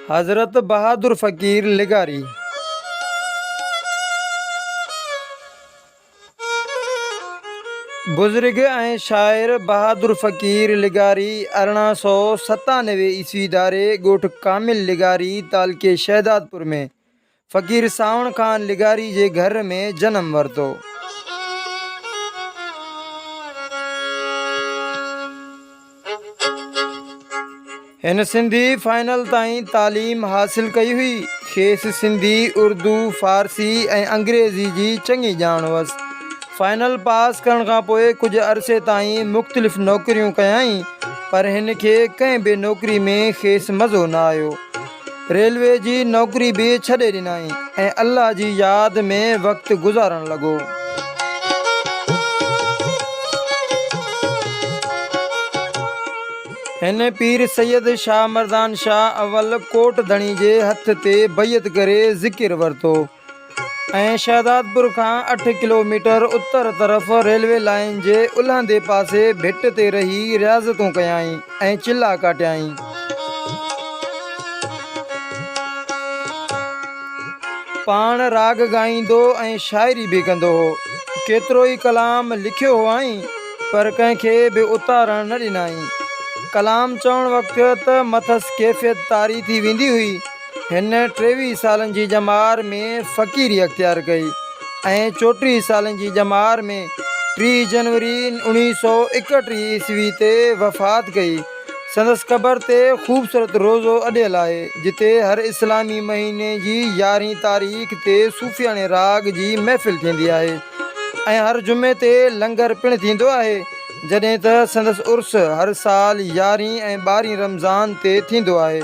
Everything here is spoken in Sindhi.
حضرت بهادر فقير لغاري بزرگ ۽ شاعر بهادر فقير لغاري ارڙهن سؤ ستانوي عيسوي ڌاري ڳوٺ ڪامل لغاري تعلقي شهدادپور ۾ فقير سانوڻ خان لغاري جي گهر ۾ جنم ورتو. هن سنڌي فائنل تائين تعليم حاصل ڪئي هئي. کيس سنڌي، اردو، فارسي ۽ انگريزي جي چڱي ڄاڻ هئس. فائنل پاس ڪرڻ کان پوء ڪجهه عرصي تائين مختلف نوڪريون ڪيائين پر هن کي ڪنهن به نوڪري ۾ کيس مزو نه آيو. ريلوي جي نوڪري به ڇڏي ڏنائين ۽ الله جي ياد ۾ وقت گذارڻ لڳو. هن پير سيد شاهه مردان شاهه اول ڪوٽ ڌڻي جي هٿ تي بيعت ڪري ذڪر ورتو. ۽ شهدادپور کان اٺ ڪلوميٽر اتر طرف ريلوي لائين جي الهندي پاسي ڀٽ تي رهي رياضتون ڪيائين ۽ چلا ڪاٽيائين. پاڻ راڳ ڳائيندو ۽ شاعري به ڪندو هو. ڪيترو ئي ڪلام لکيو هئائين، پر ڪنهن کي به اتارڻ نه ڏنائين. ڪلام چوڻ وقت ته مٿس ڪيفيت طاري ٿي ويندي هئي. هن ٽيويهه سالن جي ڄمار ۾ فقيري اختيار ڪئي ۽ چوٽيهه سالن جي ڄمار ۾ ٽيهه جنوري اوڻيهه سؤ ايڪٽيهه عيسوي تي وفات ڪئي. سندس قبر تي خوبصورت روضو اڏيل آهي، جتي هر اسلامي مهيني جي يارهين تاريخ تي صوفياڻي راڳ جي محفل ٿيندي آهي ۽ هر جمعي تي لنگر پڻ ٿيندو آهي، جڏهن ته سندس عرس هر سال يارهين ۽ ٻارهين رمضان تي ٿيندو آهي.